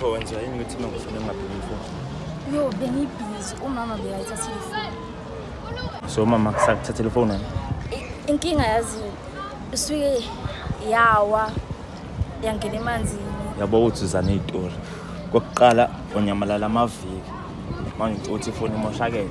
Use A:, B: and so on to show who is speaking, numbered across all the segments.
A: Pho wenza yini ukuthi uma ngifuna ngingabheki ifoni? Yo, bengibhizi
B: umama bekayithatha ifoni. So umama
A: kusakuthathela ifoni wena? I- Inkinga
B: yazi isuke yawa yangena emanzini. Yabo ukuthi uzana
A: izitori. Kokuqala onyamalala amaviki. Manje uthi ifoni imoshakele.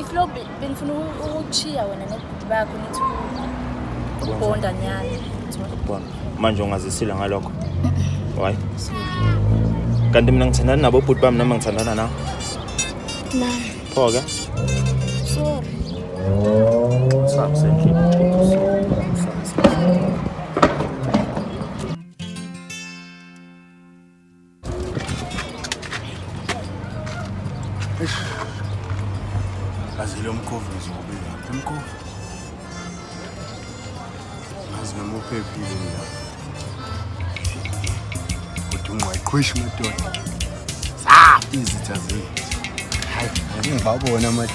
B: iflo benifuna ukuchiya wena nebhuti bakho nithi ukubonda nyana ukubonda
A: manje ungazisile ngalokho why kanti mina ngithandana nabo bhuti bami noma ngithandana nawo na
B: pho ke sorry Sabe,
A: sempre.
C: Azile umkhovu ngizobe lapha umkhovu. Ngazi noma uphephile lapha. Kodwa ungqwaqhwishi madoda. Sa izitha zethu. Hayi, ngibabona manje.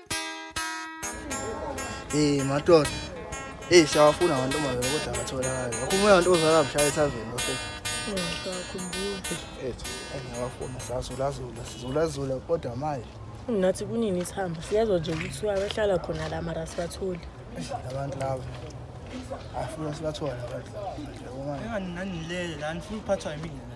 C: Eh madoda. Eh siyawafuna abantu manje kodwa akatholakali. Akho umoya abantu ozala mshaya ethaveni bafethu. Ethu
B: engiyawafuna
C: sazulazula sizulazula kodwa manje Nathi kunini
D: isihamba siyezwa nje ukuthi wabehlala khona la mara sibatholi. abantu laba.
C: Afuna sibathole abantu laba. Yabo manje. Engani
E: nanilele la nifuna ukuphathwa yimina.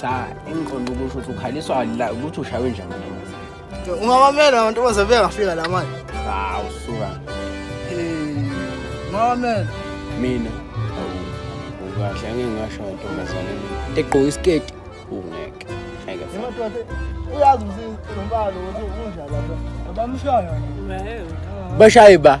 D: cha
C: engiqonda
F: ukusho ukuthi ukhaliswa la ukuthi ushaywe njani amantombazane ungawamela amantombazane
C: bengafika la manje hawu suka
F: ungawamela mina kahle angeke ngasho ngentombazane egqoka isiketi ungeke ngeke
E: uyazi umsisi lombalo ukuthi unjalo
F: abamshayo bashaye ba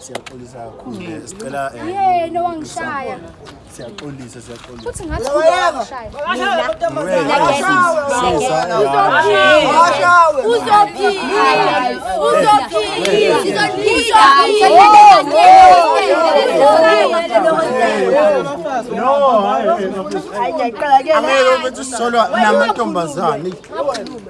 E: Siyaxolisa kakhulu. Mm. Sicela eh, yena wangishaya.
G: Siyaxolisa, siyaxolisa. Futhi ngathi wangishaya.
E: Angeke ubethi solwa namantombazane.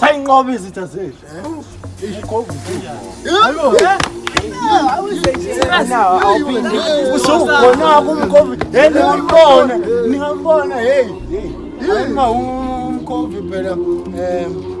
E: sayinqoba izitha zethu usukhona kumkovid hey ningambona ningambona hey ayinga umkovid phela um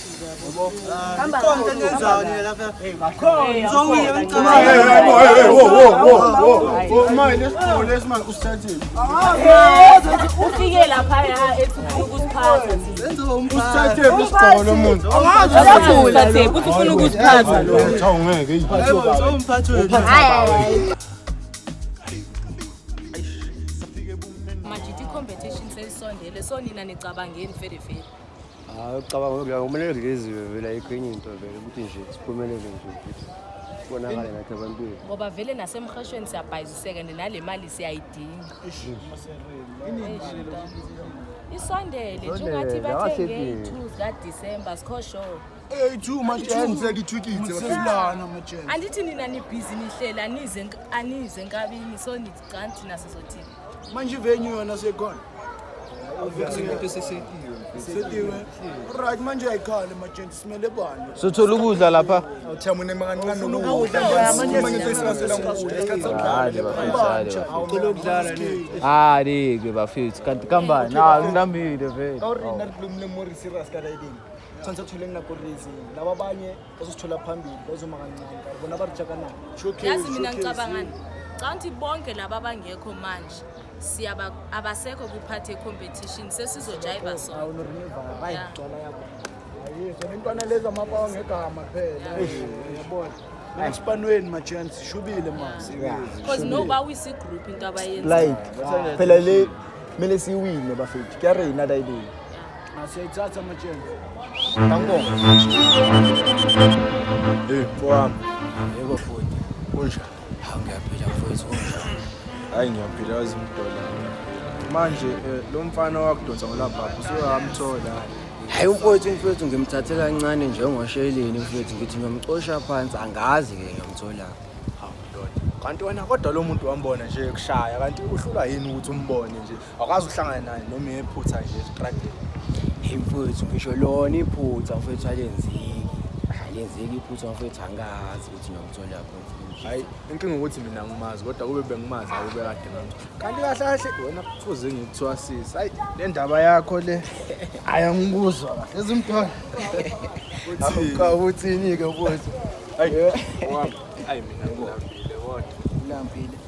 E: ufike
D: lapha ya
E: efuna
D: ukusiphatha usithathe
E: isigqoko umuntu Usithathe, kuthi
D: ufuna ukusiphatha Cha ungeke
E: yi.
B: manje ithi i-competition seyisondele so nina nicabangeni fedefede Hayi
E: ucabanga ukuthi kumele kuleziwe vele ayikho enye into vele ukuthi nje siphumelele nje futhi kubonakale nathi abantwini ngoba vele nasemhashweni
B: siyabhayiziseka and nale mali siyayidinga isondele nje Isondele, ungathi la bathenge wasethi- i-two zikadisemba sikho sure
E: eyi-two majense kithwikithe baselana majense andithi nina nibhizi
B: nihlela anize enk- anize enkabini so nithi canti naso zothini manje ivenue
E: yona sekhona right manje ayikhale majenti simele bani sothola ukudla lapha
C: alike bafethu kanti kambani ngilambile vele
E: bazosithola phambili bazoma kancane bona abarijhakanako yazi mina
B: ngicabangani canga ukuthi bonke laba abangekho manje siyaba abasekho kwi-part ye-competition sesizojayiva
E: sonintwana lezi amapawa ngegama phela yabona esipanweni majans ishubile mabecause no
B: bawisa igroup into abayenza phela
E: le kumele siyiwine bafethu kuyareyina dayibeni Nasiyayithatha amatsheni. Angibonge.
A: Eh, mfowami. Yebo
F: futhi. Kunjani?
A: Hawu ngiyaphila
F: mfowethu kunjani? Hayi ngiyaphila
A: wazi umdola. Manje eh, lo mfana wakudonsa ngolabhabha usuhamthola. Hayi
F: umfowethu mfowethu ngimthathe kancane njengosheleni mfowethu ngithi ngiyomcosha phansi angazi ke ngiyomthola.
A: Kanti wena kodwa lo muntu wambona nje kushaya kanti uhlulwa yini ukuthi umbone nje Awukazi uhlangane naye noma iphutha nje estrade. Hey mfowethu
F: ngisho lona iphutha mfowethu alenzeki. Alenzeki iphutha mfowethu angazi ukuthi ngiyamthola phansi. Hayi inkinga
A: ukuthi mina ngimazi kodwa kube bengimazi akube kade ngamthola. Kanti kahle kahle wena kufuze ngikuthwasise. Hayi le ndaba yakho le. Hayi angikuzwa kahle ezimthola. Awuka
F: uthini ke mfowethu? Hayi wami. Hayi
A: mina ngilambile kodwa. Ulambile.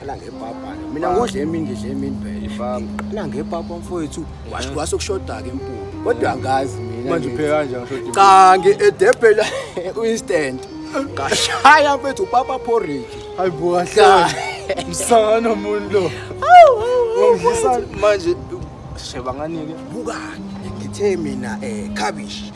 F: Qala ngepapa. Mina ngodla emini ngidla emini phela. Ipapa. Qala ngepapa mfowethu. Washo kwase kushoda ke impuphu. Kodwa angazi mina. Manje ngithi- upheka kanjani shoti?
A: Cha ngedebhela
F: instant. Ngashaya mfethu papa porridge. Hayi bo kahle.
A: Cha. Msangano umuntu lo. Ungidlisa manje sheba nganike. Bukani
F: ngithe mina eh cabbage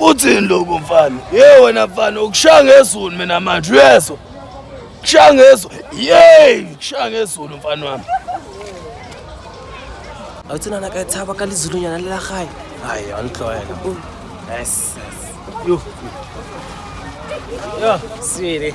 E: Uthini lokho mfana? Ye wena mfana ukushaya ngezulu mina manje uyezwa. Kushaya ngezulu. Yey, kushaya ngezulu mfana wami.
H: Awuthina na ka tshaba ka lizulu nyana le la gae. Hayi, angihlwela. Yes. Yo. Yo, sweetie.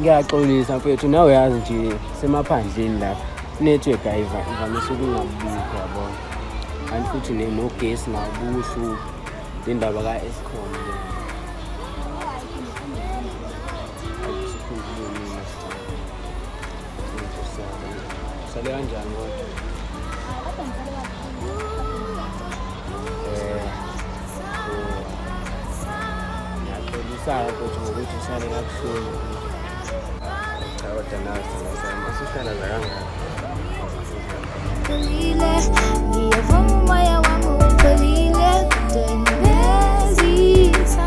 G: ngiyaxolisa
C: mfethu nawe yazi nje semaphandleni lapha network ayivamise ukungabikho yabona kanti futhi nogesi nakubuhluphi indaba ka-escom le Sale kanjani kodwa? Eh. Ngiyaqolisa ukuthi ngokuthi usale kabuhlungu. Cha kodwa nawe singazama sihlala la kangaka. Ngiyavuma umoya wami upholile kudwengeza.